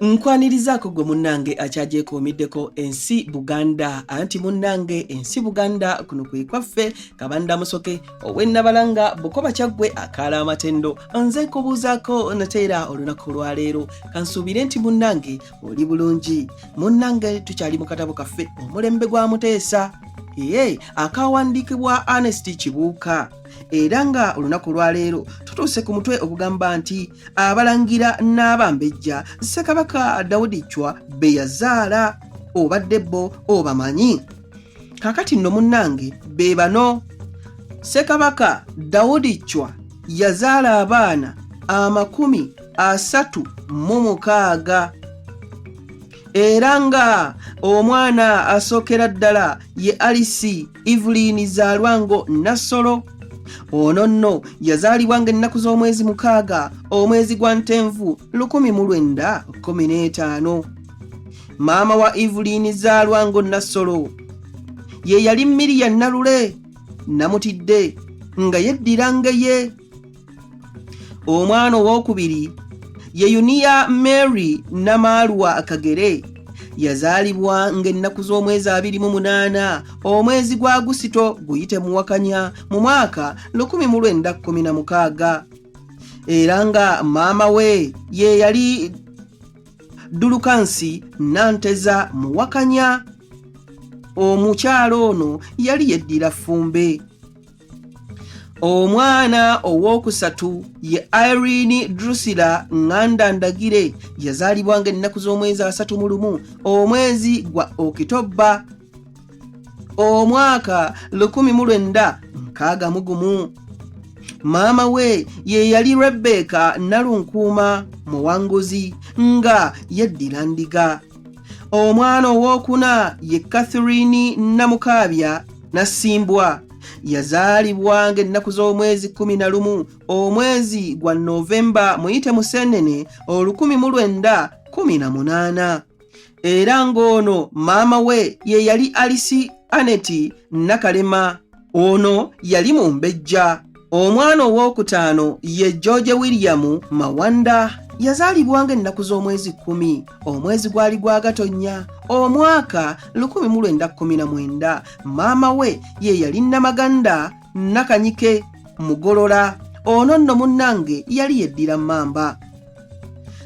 nkwanirizaako gwe munnange akyagyekuumiddeko ensi buganda anti munnange ensi buganda kuno kwe kwaffe kabanda musoke ow'ennabalanga bukoba kyaggwe akaala amatendo nze nkubuuzaako nateera olunaku olwaleero kansuubire nti munnange oli bulungi munnange tukyali mu katabo kaffe omulembe gwa muteesa ye akawandiikibwa Ernest Kibuuka era nga olunaku lwaleero tutuuse ku mutwe ogugamba nti abalangira n'abambejja ssekabaka dawudi cwa be yazaala obadde bo obamanyi kakati nno munnange be bano ssekabaka dawudi cwa yazaala abaana amakumi asatu mu mukaaga era nga omwana asookera ddala ye alisi Evelyn Zalwango Nassolo ono nno yazaalibwa nga ennaku z'omwezi mukaaga omwezi gwa ntenvu 1915 maama wa Evelyn Zalwango Nassolo ye yali Miriya Nalule namutidde nga yeddiranga ye omwana owokubiri ye yuniya mary namaalwa kagere yazaalibwa ng'ennaku z'omwezi abiri mu munaana omwezi gwa gusito guyite muwakanya mu mwaka 1916 era nga maama we ye yali dulukansi nanteza muwakanya omukyalo ono yali yeddira fumbe Omwana ow'okusatu ye Irene Drusilla Nganda Ndagire yazaalibwa ng'ennaku z'omwezi asatu mu lumu omwezi gwa Okitobba omwaka 1961. Maama we ye yali Rebecca Nalunkuuma Muwanguzi nga yeddira Ndiga. omwana ow'okuna ye catherine namukaabya nasimbwa yazaalibwa ng'ennaku z'omwezi 11 omwezi gwa novemba muyite museenene 1918 era ng'ono maama we ye yali alisi aneti nakalema Ono yali mumbejja. Omwana ow'okutaano ye George William Mawanda yazaalibwa ng'ennaku z'omwezi kkumi omwezi gwali gwa gatonnya omwaka 1919 maama we ye yali namaganda nakanyike mugolola ono nno munnange yali yeddira mmamba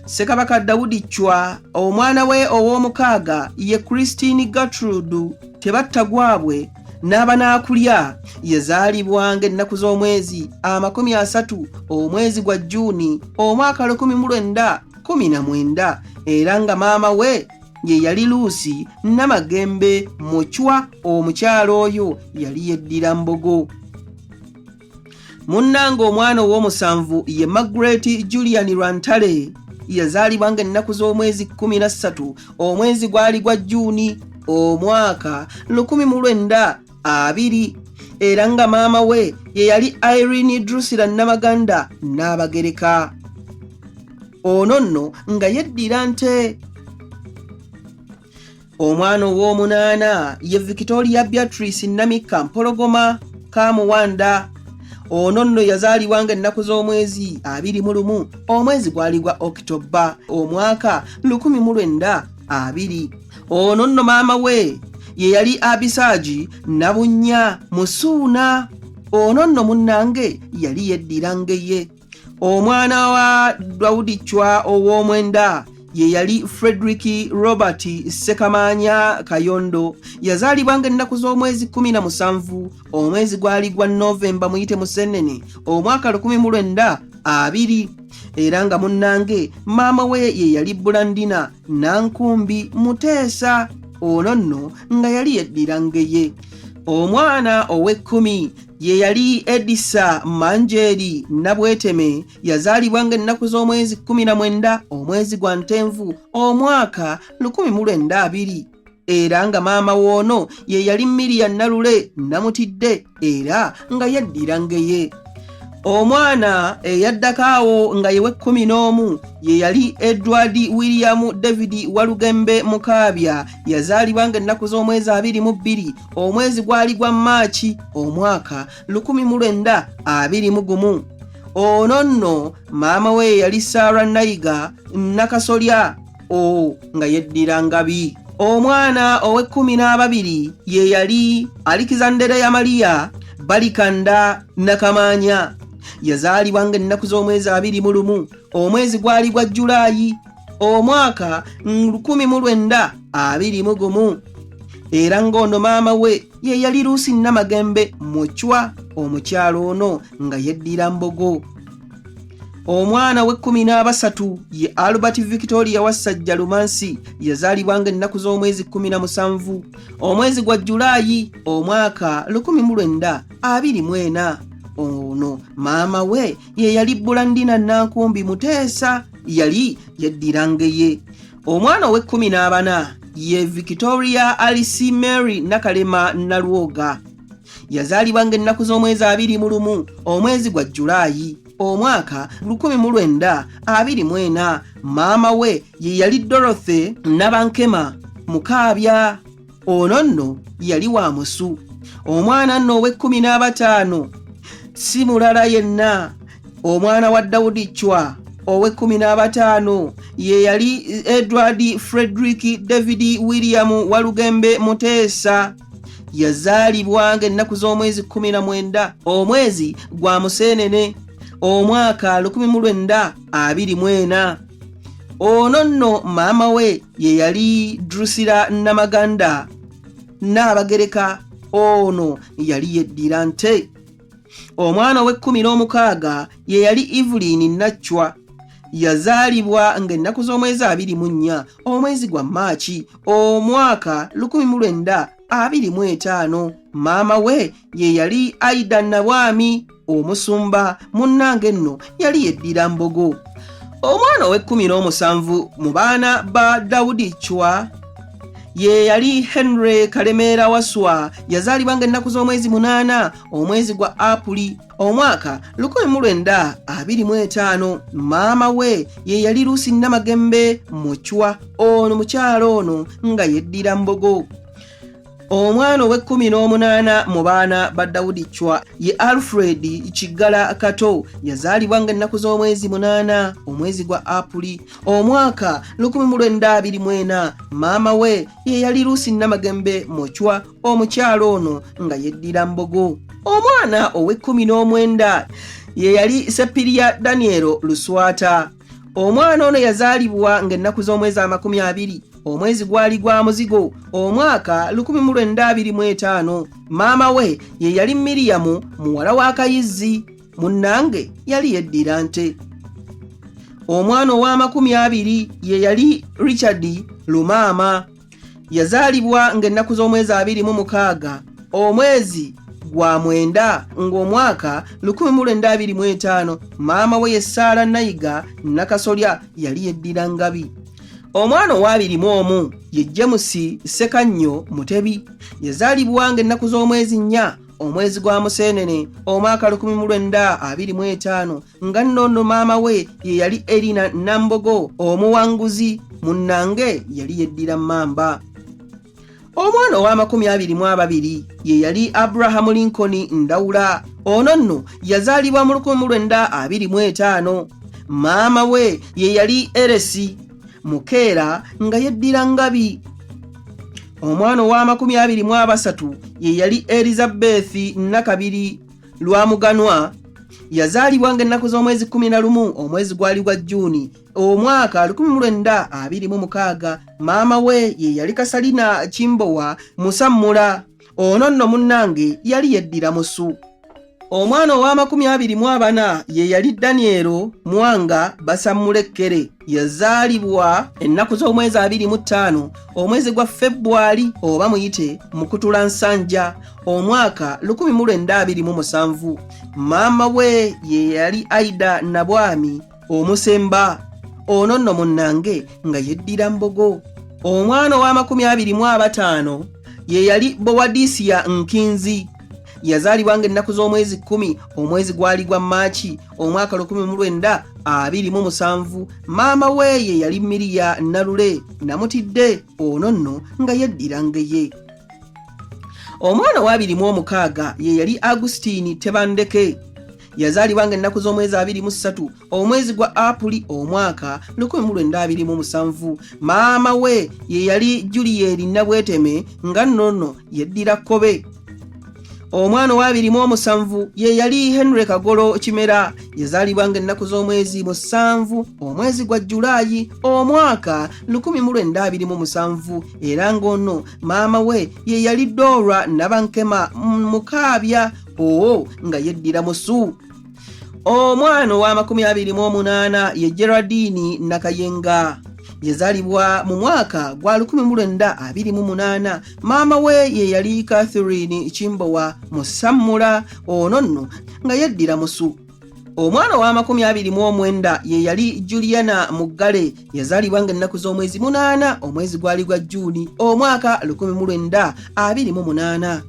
ssekabaka dawudi cwa omwana we ow'omukaaga ye christine gertrude tebatta gwabwe n'abanaakulya yazaalibwa ng'ennaku z'omwezi amakumi asatu omwezi gwa juuni omwaka 1919 era nga maama we ye yali luusi namagembe mucwa omukyalo oyo yali yeddira mbogo munnange omwana ow'omusanvu ye magret julian lwantale yazaalibwa nga ennaku z'omwezi 13 omwezi gwali gwa juuni omwaka 1920 era nga maama we ye yali irene drusila namaganda n'abagereka ono nno nga yeddira nte omwana ow'omunaana ye victoria beatrice namikka mpologoma kamuwanda ono nno yazaalibwa nga ennaku z'omwezi abiri mu lumu omwezi gwali gwa okitobba omwaka 1920 ono nno maama we ye yali abisaagi nabunnya musuuna ono nno munnange yali yeddira ngeye omwana wa dawudi chwa ow'omwenda ye yali frederick robert ssekamaanya kayondo yazaalibwa nga ennaku z'omwezi 17 omwezi gwali gwa novemba muyite musennene omwaka 1920 era nga munnange maama we ye yali bulandina nankumbi muteesa ono nno nga yali yeddira ngeye omwana ow'ekkumi ye yali Edisa Manjeeri Nabweteme yazaalibwa ng'ennaku z'omwezi 19 omwezi gwa Ntenvu omwaka 1902 era nga maama woono ye yali Miria Nalule Namutidde era nga yaddira ngeye. Omwana eyaddako awo nga ye w'ekkumi n'omu ye yali Edward William David Walugembe Mukaabya yazaalibwa ng'ennaku z'omwezi abiri mu bbiri omwezi gwali gwa maaki omwaka 1921 ono nno maama we yeyali sara nayiga nakasolya o nga yeddira ngabi omwana ow'ekkumi n'ababiri ye yali alikizandere ya maliya balikanda nakamaanya yazaalibwa nga ennaku z'omwezi abiri mu lumu omwezi gwali gwa julaayi omwaka 1921 era ng'ono maama we ye yali luusi namagembe mucwa omukyalo ono nga yeddira mbogo omwana w'ekkumi n'abasatu ye albert victoria wassajja lumansi yazaalibwa nga ennaku z'omwezi 17 omwezi gwa julaayi omwaka 1924 ono maama we ye yali bulandina nankumbi muteesa yali yeddira ngeye omwana ow'ekkumi n'abana ye victoria alice mary nakalema nalwoga yazaalibwa ng'ennaku z'omwezi abiri mu lumu omwezi gwa jjulaayi omwaka 1924 maama we ye yali dorothy nabankema mukaabya ono nno yali wa musu omwana nno ow'ekkumi n'abataano si mulala yenna omwana wa dawudi cwa ow'ekkumi n'abataano ye yali edward frederick david william walugembe muteesa yazaalibwa ng'ennaku z'omwezi 19 omwezi gwa museenene omwaka 19 abiri mu ena ono nno maama we ye yali drusira namaganda naabagereka ono yali yeddira nte omwana ow'ekkumi n'omukaaga ye yali evelini naccwa yazaalibwa ng'ennaku z'omwezi abiri mu nnya omwezi gwa maaki omwaka 19 abiri mu etaano maama we ye yali aida nabwami omusumba munnange nno yali yeddira mbogo omwana ow'ekkumi n'omusanvu mu baana ba dawudi cwa ye yali henry kalemeera waswa yazaalibwa nga ennaku z'omwezi munaana omwezi gwa apuli omwaka lukumi mu lwenda abiri mu etaano maama we ye yali luusi namagembe mucwa ono mukyalo ono nga yeddira mbogo omwana ow'ekkumi n'omunaana mu baana ba dawudi cwa ye alfred kiggala kato yazaalibwa nga ennaku z'omwezi munaana omwezi gwa apuli omwaka 192 maama we ye yali luusi namagembe mucwa omukyala ono nga yeddira mbogo omwana ow'ekkumi n'omwenda ye yali sepiriya danielo luswata omwana ono yazaalibwa ng'ennaku z'omwezi amakumi abiri omwezi gwali gwa muzigo omwaka 1925 maama we ye yali miriyamu muwala wa kayizzi munnange yali yeddira nte omwana ow'amakumi abiri ye yali richard lumaama yazaalibwa ng'ennaku z'omwezi abiri mu mukaaga omwezi gwa mwenda ng'omwaka 1925 maama we ye ssaala nayiga nakasolya yali yeddira ngabi omwana owabiri mu omu ye jemusi ssekannyo mutebi yazaalibwa ng'ennaku z'omwezi nnya omwezi gwa museenene omwaka 1925 nga nno ono maama we ye yali erina nambogo omuwanguzi munnange yali yeddira mamba omwana ow'amakumi abiri mu ababiri ye yali abrahamu lincoln ndawula ono nno yazaalibwa mu lukumi lwenda abiri mu etaano maama we ye yali eresi mukeera nga yeddira ngabi omwana ow'amakumi abiri mu abasatu ye yali erizabethi nakabiri lwamuganwa yazaalibwa nga ennaku z'omwezi 11 omwezi gwali gwa juuni omwaka 1926 maama we ye yali kasalina kimbowa musammula ono nno munnange yali yeddira musu omwana ow'amakumi abiri mu abana ye yali danielo mwanga basammula ekkere yazaalibwa ennaku z'omwezi abiri mu ttaano omwezi gwa febbwali oba muyite mukutula nsanja omwaka 1927 maama we ye yali aida nabwami omusemba ono nno munnange nga yeddira mbogo omwana ow'amakumi abiri mu abataano ye yali bowadisiya nkinzi yazaalibwa ng'ennaku z'omwezi kkumi omwezi gwali gwa maaki omwaka 1927 maama weeye yali miriya nalule namutidde ono nno nga yeddira ngeye omwana wabiri mu omukaaga ye yali agusitiini tebandeke yazaalibwa nga ennaku z'omwezi 23 omwezi gwa apuli omwaka 1927 maama we ye yali juliyeri nabweteme nga nnono yeddira kkobe omwana owabiri mu omusanvu ye yali henry kagolo kimera yazaalibwa nga ennaku z'omwezi musanvu omwezi gwa jjulaayi omwaka 1927 era ng'ono maama we ye yali doora nabankema mukaabya owo nga yeddira musu omwana ow'amakumi abiri mu omunaana ye geradiini nakayenga yazalibwa mu mwaka gwa 1928 maama we ye yali catherine kimbowa musammula ono nno nga yeddira musu omwana ow'amakumi abiri mu omwenda ye yali juliana muggale yazalibwa nga ennaku z'omwezi munaana omwezi gwali gwa juuni omwaka 1928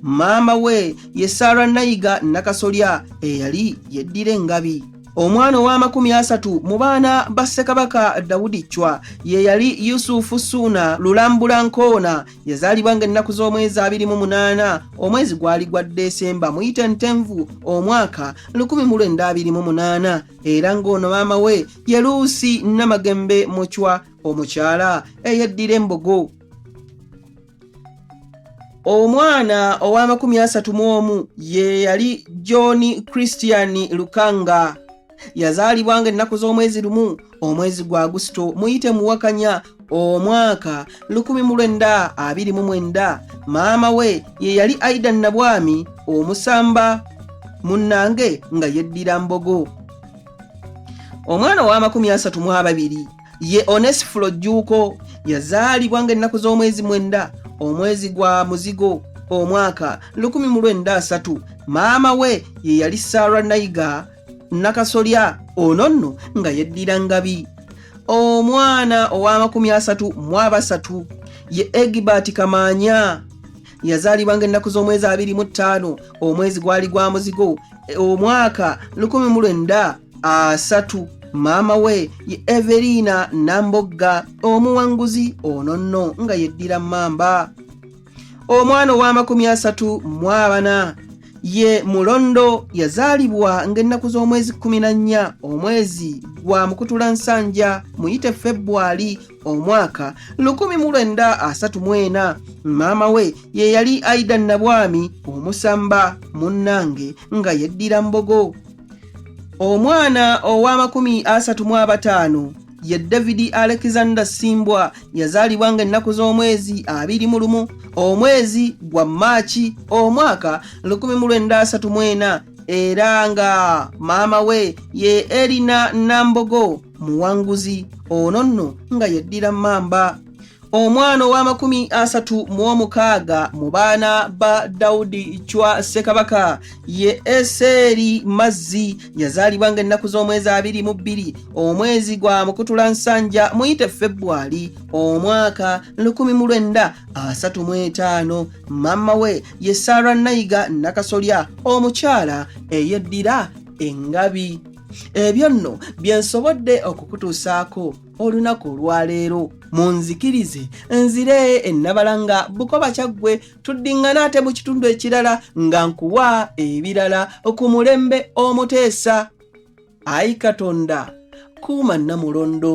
maama we ye saara nayiga nakasolya eyali yeddira engabi omwana ow'amakumi asatu mu baana ba ssekabaka dawudi ccwa ye yali yusufu suuna lulambula nkoona yazaalibwa ng'ennaku z'omwezi abiri mu munaana omwezi gwali gwa desemba muyite ntenvu omwaka 1928 era ng'ono maama we ye luusi namagembe mucwa omukyala eyeddira embogo omwana ow'amakumi asatu mu omu ye yali john christian lukanga yazaalibwa nga ennaku z'omwezi lumu omwezi gwa agusito muyite muwakanya omwaka 1929 maama we ye yali aida nabwami omusamba munnange nga yeddira mbogo omwana ow'amakumi asatu mu ababiri ye onesifuro jjuuko yazaalibwa ng'ennaku z'omwezi mwenda omwezi gwa muzigo omwaka 193 maama we ye yali sara naiga nakasolya ono nno nga yeddira ngabi omwana ow'amakumi asatu mu abasatu ye egibert kamaanya yazaalibwa ng'ennaku z'omwezi abiri mu ttaano omwezi gwali gwa muzigo e, omwaka lukumi mu lwenda asatu maama we ye everina nambogga omuwanguzi ono nno nga yeddira mamba omwana ow'amakumi asatu mu abana ye mulondo yazaalibwa ng'ennaku z'omwezi 14 omwezi gwa mukutula nsanja muyite febbwali omwaka 1934 maama we ye yali aida nabwami omusamba munnange nga yeddira mbogo omwana ow'amakumi asatu mu abataano ye davidi alexander simbwa yazaalibwa nga ennaku z'omwezi abiri mu lumu omwezi gwa maaki omwaka 1934 era nga maama we ye erina nambogo muwanguzi ono nno nga yeddira mamba omwana ow'amakumi asatu mu omukaaga mu baana ba dawudi cwa ssekabaka ye eseeri mazzi yazaalibwa nga ennaku z'omwezi abiri mu bbiri omwezi gwa mukutula nsanja muyite febbwali omwaka 1935 maama we ye saara nayiga nakasolya omukyala eyeddira engabi ebyo nno bye nsobodde okukutuusaako olunaku olwaleero munzikirize nzire ennabala nga bukoba kyaggwe tuddingana ate mu kitundu ekirala nga nkuwa ebirala ku mulembe omuteesa ayi katonda kuuma nnamulondo